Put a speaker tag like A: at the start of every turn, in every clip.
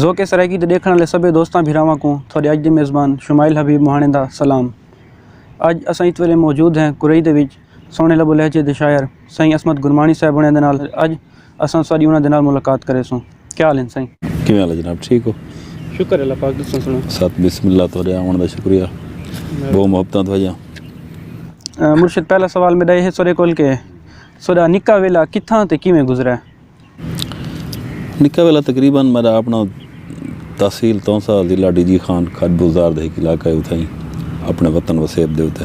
A: ذوق سرائیکی دے ݙیکھݨ آلے سبھے دوستاں بھراواں کوں تھوڑے اڄ دے میزبان شمائل حبیب مہاݨے دا سلام اڄ اساں اس ویلے موجود ہیں کریج دے وچ سوہݨے لب و لہجے دے شاعر سائیں عصمت گرمانی صاحب ہوݨیاں دے نال اڄ اساں ساݙی انہاں دے نال ملاقات کریسوں۔ کیا حال ہن سائیں؟ کیویں حال ہے جناب ٹھیک
B: ہو؟ شکر اللہ پاک
A: تساں سݨاؤ؟ ساتھ بسم اللہ تہاݙے
B: آوݨ دا شکریہ ٻہوں محبتاں تہاݙیاں۔ مرشد پہلا سوال
A: میݙا ایہ ہے سݙے کول کہ سݙا نکا ویلا کتھاں تے کیویں گزریا؟ نکا
B: ویلا تقریبا میݙا آپݨا۔ تحصیل تونسہ ضلع ڈی جی خان کھڈ بزدار دے ہک علاقہ ہے اتھائیں اپنے وطن وسیب دے اتے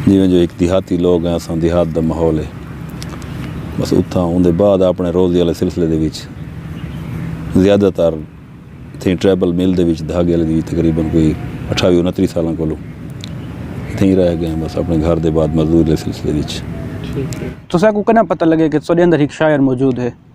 B: جیویں جو ہک دیہاتی لوگ ہیں اساں دیہات دا ماحول ہے بس اتھاں اون دے بعد اپنے روزی والے سلسلے دے وچ زیادہ تر تھیں ٹریبل مل دے وچ دھاگے والے دی تقریبا کوئی اٹھاوی انتری سالاں کولو تھیں رہ گئے ہیں بس اپنے گھر دے بعد مزدور دے سلسلے وچ تساں
A: کو کناں پتہ لگے کہ سوڈے اندر ہک شاعر موجود ہے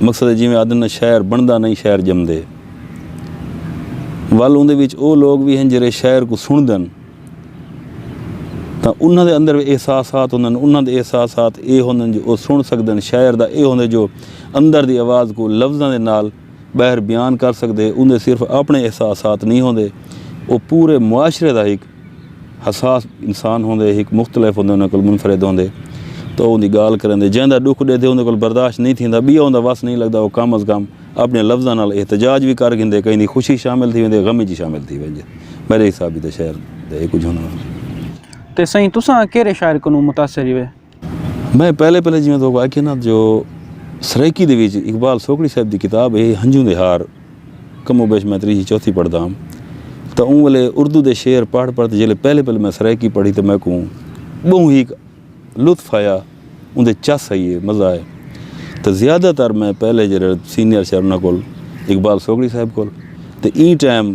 B: مقصد ہے جیویں آدھن نا شاعر بندا نئیں شاعر جمدے۔ ول اوندے وچ او لوگ وی ہن جیرھے شاعر کوں سنڑدن تاں انہاں دے اندر وی احساسات ہوندن انہاں دے احساسات اے ہوندن جو او سنڑ سگدن شاعر دا اے ہوندے جو اندر دی آواز کوں لفظاں دے نال باہر بیان کر سگدے اوندے صرف اپنڑے احساسات نئیں ہوندے او پورے معاشرے دا ہک حساس انسان ہوندے ہک مختلف ہوندے انہاں کول منفرد ہوندے تو اوندی گال کریندے جیندا ڈکھ ڈے تھے اوندے کول برداشت نہیں تھیندا بیا اوندا وس نہیں لگدا او کم از کم اپنے لفظاں نال احتجاج وی کر گھندے کہیں دی خوشی شامل تھی ویندے غم وچ شامل تھی ویندے میرے حساب وچ تے شعر دے اے کچھ ہن۔ تے سئیں
A: تساں کیرے شاعر کنوں متاثر ہوئے؟ میں پہلے
B: پہلے جیویں تو آکھیا نا جو سرائیکی دے وچ اقبال سوکڑی صاحب دی کتاب ہے ہنجوں دے ہار کم و بیش میں تریجھی چوتھی پڑھدا ہم تاں اوں ویلے اردو دے شعر پڑھ پڑھ تے جیلے پہلے پہلے میں سرائیکی پڑھی تاں میکوں بہوں ہی لطف آیا اوں دے چس آئی ہے مزہ آئے تاں زیادہ تر میں پہلے جڑے سینئر شعر انہاں کول اقبال سوکڑی صاحب کول تے ایں ٹائم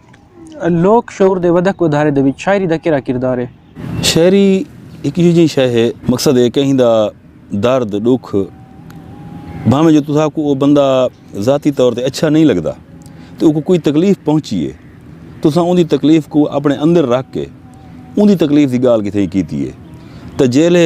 A: لوک شعور دے ودھک ودھارے دے وچ شاعری دا کیرھا کردار ہے؟ شاعری
B: ہک ایہو جئی شے ہے۔ مقصد ہے کہیں دا درد ݙکھ بھانویں جو تساں کوں او بندہ ذاتی طور تے اچھا نئیں لڳدا تے اوکوں کوئی تکلیف پہنچی ہے تساں اوندی تکلیف کوں اپݨے اندر رکھ کے اوندی تکلیف دی ڳالھ کیتے کیتی ہے تاں جیلھے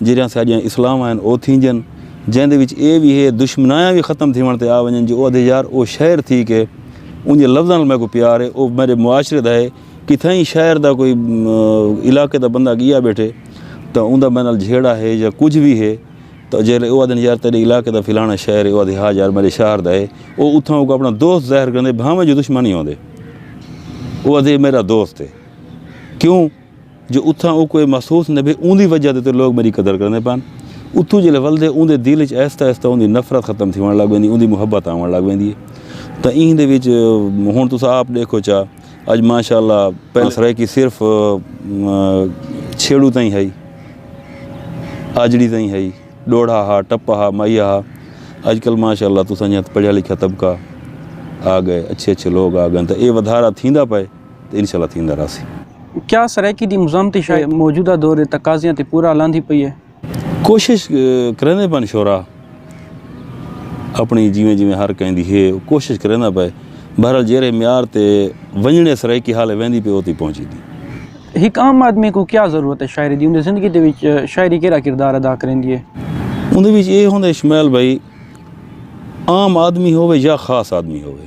B: جیرھیاں ساڈیاں اصلاحواں ہن او تھینجن جیندے وچ اے وی ہے دشمنایاں وی ختم تھیوݨ تے آ ونجن جو او آدھے یار او شاعر تھی کے اونجے لفظاں نال میکوں پیار ہے او میڈے معاشرے دا ہے کتھائیں شاعر دا کوئی علاقے دا بندہ گیا بیٹھے تاں اوندا میڈے نال جھیڑا ہے یا کجھ وی ہے تاں جے او آدھن یار تیڈے علاقے دا فلانا شاعر ہے او آدھے ہا یار میڈے شاہر دا ہے او اتھاں اوکوں اپنا دوست ظاہر کریندے بھانویں جو دشمن ہی ہوندے او آدھے میڈا دوست ہے کیوں جو اتھاں اوکوں اے محسوس نہ بھے اوندی وجہ دے تے لوگ میڈی قدر کریندے پن۔ اتھوں جیلے ولدے اوندے دل اچ آہستہ آہستہ اوندی نفرت ختم تھیوݨ لگ ویندی اوندی محبت آوݨ لگ ویندی اے۔ تاں ایں دے وچ ہݨ تساں آپ ݙیکھو چا اڄ ماشاءاللہ پہلے سرائیکی صرف چھیڑو تئیں ہئی آجڑی تئیں ہئی ݙوڑھا ہا ٹپا ہا مائیا ہا اڄ کل ماشاءاللہ تساں جاں پڑھیا لکھیا طبقہ آ ڳئے اچھے اچھے لوگ آ ڳئن تاں اے ودھارا تھیندا پئے۔ تے انشاء اللہ تھیندا رہسی۔ کیا سرائیکی
A: دی مزاحمتی شاعری موجودہ دور دے تقاضیاں تے پورا لاندھی پئی ہے؟ کوشش
B: کریندے پن شعراء اپݨی جیویں جیویں ہر کہیں دی ہے او کوشش کریندا پئے بہرحال جیرھے معیار تے ونڄݨے سرائیکی حالے ویندی پئی او تئیں پہنچیندی۔ ہک عام آدمی کوں
A: کیا ضرورت ہے شاعری دی اوندی زندگی دے وچ شاعری کیرھا کردار ادا کریندی ہے؟ اوندے وچ اے
B: ہوندے شمیل بھئی عام آدمی ہووے یا خاص آدمی ہووے۔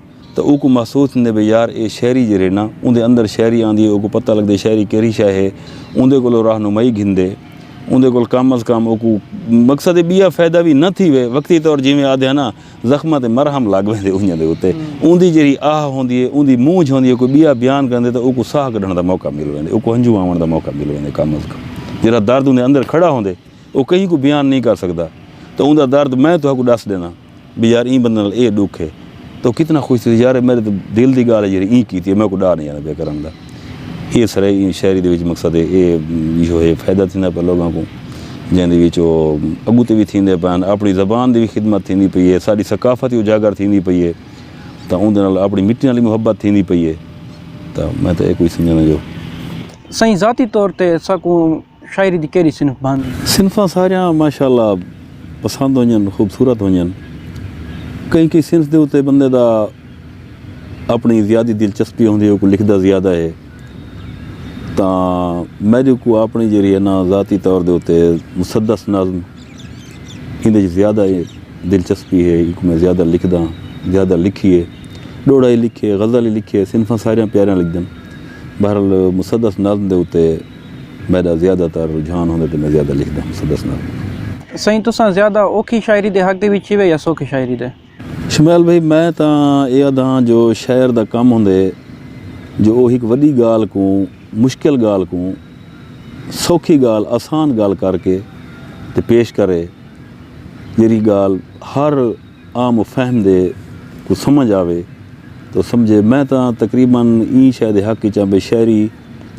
B: تاں اوکوں محسوس تھیندے بھئی یار اے شہری جیرھے نا اوندے اندر شہری آندی اوکوں پتہ لگدے شہری کیرھی شے ہے اوندے کولوں راہنمائی گھندے اوندے کول کم از کم اوکوں مقصد اے بیا فیدہ وی نہ تھیوے وقتی طور جیویں آدھے ہن نا زخماں تے مرہم لگ ویندے اونجھاں دے اتے اوندی جیرھی آہ ہوندی اے اوندی مونجھ ہوندی اے کوئی بیا بیان کریندے تاں اوکوں ساہ کڈھن دا موقع مل ویندے اوکوں ہنجھوں آوݨ دا موقع مل ویندے کم از کم جیرھا درد اوندے اندر کھڑا ہوندے او کہیں کوں بیان نئیں کر سگدا تاں اوندا درد میں تہاکوں ڈس ڈینداں بھئی یار ایں بندے نال اے ڈکھ ہے تو کتنا خوش تھیسی یار میڈے تے دل دی گالھ ہے جیڑھے ایں کیتی ہے میکوں ڈاہ نہیں آندا پیا کرن دا اے سرے ایں شاعری دے وچ مقصد ہے اے جو ہے فائدہ تھیندا پیا لوگاں کوں جیں دے وچ او اگو تے وی تھیندے پن اپنی زبان دی وی خدمت تھیندی پئی ہے ساڈی ثقافت وی اجاگر تھیندی پئی ہے تاں اوندے نال اپنی مٹی نال وی محبت تھیندی پئی ہے تاں میں تاں اے کچھ سمجھانا جو سائیں
A: ذاتی طور تے اساکوں شاعری دی کیڑی صنف بھاندی؟ صنفاں ساریاں
B: ماشاء اللہ پسند ہونجن خوبصورت ہونجن کہیں کہیں صنف دے اتے بندے دا اپنی زیادی دلچسپی ہوندی ہے اوکوں لکھدا زیادہ ہے تاں میڈی کو اپنی جیڑی ہے نا ذاتی طور دے اتے مسدس نظم ہندے جی زیادہ دلچسپی ہے ایک میں زیادہ لکھدا زیادہ لکھی ہے ڈوڑا ہی لکھے غزل ہی لکھے صنفاں ساریاں پیاریاں لکھدن بہرحال مسدس نظم دے اتے میݙا زیادہ تر رجحان ہوندے تے میں زیادہ لکھدا ہوں سا دسنا پوندے۔ سئیں تساں زیادہ
A: اوکھی شاعری دے حق دے وچ ہیوے یا سوکھی شاعری دے؟ شمیل بھئی
B: میں تاں اے آدھاں جو شاعر دا کم ہوندے جو او ہک وڈی گالھ کوں مشکل گالھ کوں سوکھی گالھ آسان گالھ کر کے تے پیش کرے جیرھی گالھ ہر عام و فہم دے کوں سمجھ آوے تو سمجھے میں تاں تقریبا ایں شے دے حق وچاں بھئی شاعری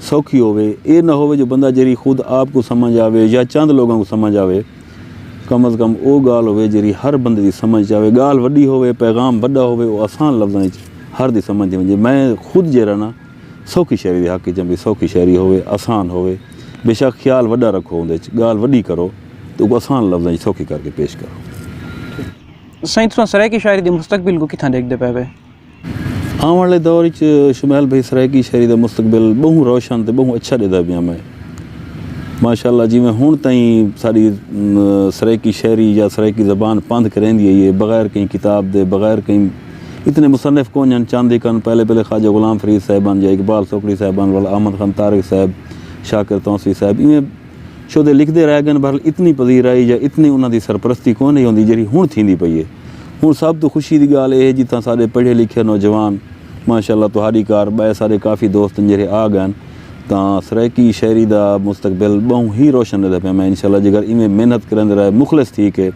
B: سوکھی ہووے۔ اے نہ ہووے جو بندہ جیرھی خود آپ کوں سمجھ آوے یا چند لوگاں کوں سمجھ آوے۔ کم از کم او گالھ ہووے جیرھی ہر بندے دی سمجھ اچ آوے۔ گالھ وڈی ہووے، پیغام وڈا ہووے او آسان لفظاں اچ ہر دی سمجھ دے ونجے۔ میں خود جیرھا ناں سوکھی شاعری دے حق اچ ہاں بھئی سوکھی شاعری ہووے، آسان ہووے۔ بے شک خیال وڈا رکھو اوندے اچ، گالھ وڈی کرو تے اوکوں آسان لفظاں اچ سوکھی کر کے پیش کرو۔ سائیں تساں سرائیکی
A: شاعری دے مستقبل کوں کتھاں ڈیکھدے پئے وے؟ آوݨ
B: آلے دور اچ شمیل بھئی سرائیکی شاعری دا مستقبل ٻہوں روشن تے ٻہوں اچھا ݙیہدا پیا میں ماشاءاللہ جیویں ہݨ تئیں ساݙی سرائیکی شاعری یا سرائیکی زبان پندھ کریندی ہئی ہے بغیر کہیں کتاب دے بغیر کہیں اتنے مصنف کونڄ ہن چند ہک ہن پہلے پہلے خواجہ غلام فرید صاحب ہن یا اقبال سوکڑی صاحب ہن ولا احمد خان طارق صاحب شاکر تونسوی صاحب ایویں شودے لکھدے رہ گن بہرحال اتنی پذیرائی یا اتنی انہاں دی سرپرستی کوئی نئیں ہوندی جیڑھی ہنڑ تھیندی پئی ہے ہنڑ سب توں خوشی دی گالھ اے ہے جتھاں سارے پڑھے لکھے نوجوان ماشاء اللہ تہاڈی کار بئے سارے کافی دوست ہن جیڑھے آ گئن تاں سرائیکی شاعری دا مستقبل بہوں ہی روشن ریندے پئے میں انشاء اللہ جیکر ایویں محنت کریندے رہے مخلص تھی کے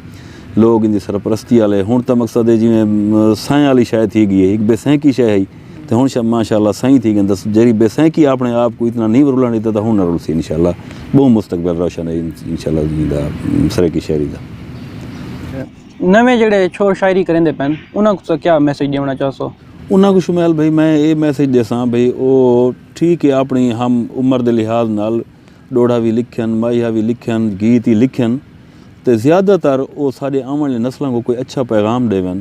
B: لوگ ایندی سرپرستی آلے ہنڑ تاں مقصد ہے جیویں سائیں آلی شے تھی گی ہے ہک بے سینکی شے ہئی تے ہن شاہ ماشاءاللہ سائیں تھی گن دس جری بے سینکی اپنے آپ کو اتنا نہیں ورولن دیتا تھا ہن نہ رولسی انشاءاللہ بہو مستقبل روشن ہے انشاءاللہ جی دا سرکی شہری دا
A: نویں جڑے چھوڑ شاعری کریں دے پین انہاں کو کیا میسج دیونا چاہ سو انہاں کو شمیل بھئی
B: میں اے میسج دے ساں بھئی او ٹھیک ہے اپنی ہم عمر دے لحاظ نال ڈوڑا بھی لکھن مائیہ بھی لکھن گیت ہی لکھن تے زیادہ تر او ساڑے آمن لے نسلوں کو کوئی اچھا پیغام دے ون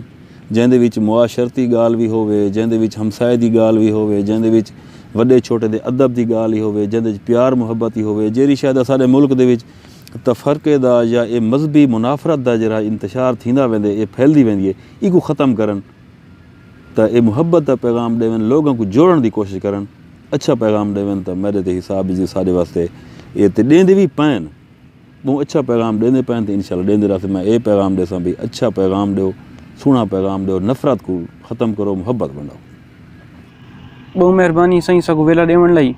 B: جیندے وچ معاشرتی ڳالھ وی ہووے، جیندے وچ ہمسائے دی ڳالھ وی ہووے، جیندے وچ وݙے چھوٹے دے ادب دی ڳالھ ای ہووے، جیندے وچ پیار محبت ای ہووے، جیڑھی شے دا ساݙے ملک دے وچ تفرقے دا یا اے مذہبی منافرت دا جیڑھا انتشار تھیندا ویندے اے پھیلدی ویندی اے ایکوں ختم کرن تاں اے محبت دا پیغام ݙیون لوگاں کوں جوڑݨ دی کوشش کرن اچھا پیغام ݙیون تاں میݙے تے حساب وچ ساݙے واسطے اے تے ݙیندے وی پئن۔ ٻہوں اچھا پیغام ݙیندے پئن تے انشاءاللہ ݙیندے رہسن میں اے پیغام ݙیساں بھئی اچھا پیغام ݙیو سوہݨا پیغام ݙیو نفرت کوں ختم کرو محبت ونڈاؤ۔
A: ٻہوں مہربانی سئیں ساکوں ویلا ݙیوݨ لئی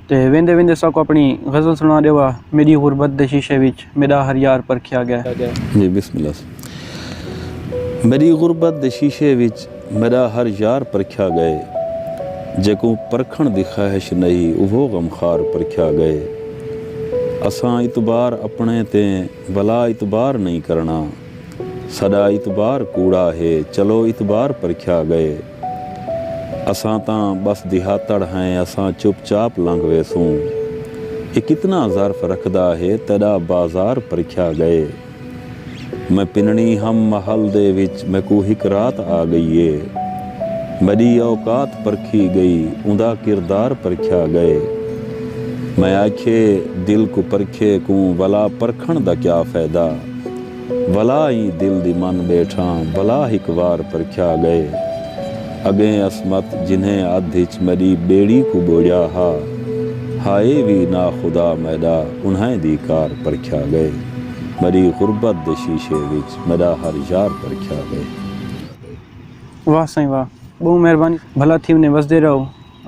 A: تے ویندے ویندے ساکوں اپݨی غزل سݨا ݙیوا میݙی غربت دے شیشے وچ میݙا ہر یار پرکھیا ڳئے۔ جی بسم اللہ۔
B: میݙی غربت دے شیشے وچ میݙا ہر یار پرکھیا ڳئے جیکوں پرکھݨ دی خواہش نئی اوہو غم خوار پرکھیا ڳئے اساں اعتبار اپݨے تے ولا اعتبار نئی کرݨا ساݙا اعتبار کوڑا ہے چلو اعتبار پرکھیا ڳئے اساں تاں ٻس دیہاتڑ ہیں اساں چپ چاپ لنگھ ویسوں اے کتنا ظرف رکھدا ہے تیݙا بازار پرکھیا ڳئے۔ میں پنڑی ہم محل دے وچ میکوں ہک رات آ گئی اے۔ میڈی اوقات پرکھی گئی اوندا کردار پرکھیا گئے۔ میں آکھیے دل کوں پرکھے کوں ولا پرکھنڑ دا کیا فیدہ۔ ولا ای دل دی من بیٹھاں ولا ہک وار پرکھیا گئے۔ اگیں عصمت جنھیں ادھ اچ میڈی بیڑی کوں بوڑیا ہا۔ ہائے وی ناخدا میڈا انھائیں دی کار پرکھیا گئے۔ میڈی غربت دے شیشے وچ میڈا ہر یار پرکھیا وے۔
A: واہ سائیں واہ بہوں مہربانی بھلا تھی ونجے وسدے رہو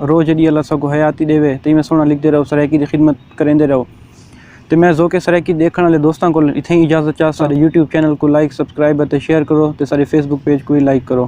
A: رو جڈی اللہ ساکوں حیاتی ڈیوے تے ایویں سوہنا لکھدے رہو سرائیکی دی خدمت کریندے رہو تے میں ذوق سرائیکی ڈیکھن آلے دوستاں کولوں اتھائیں اجازت چاہساں ساڈے یوٹیوب چینل کوں لائک سبسکرائب اتے شیئر کرو تے ساڈے فیس بک پیج کوں وی لائک کرو۔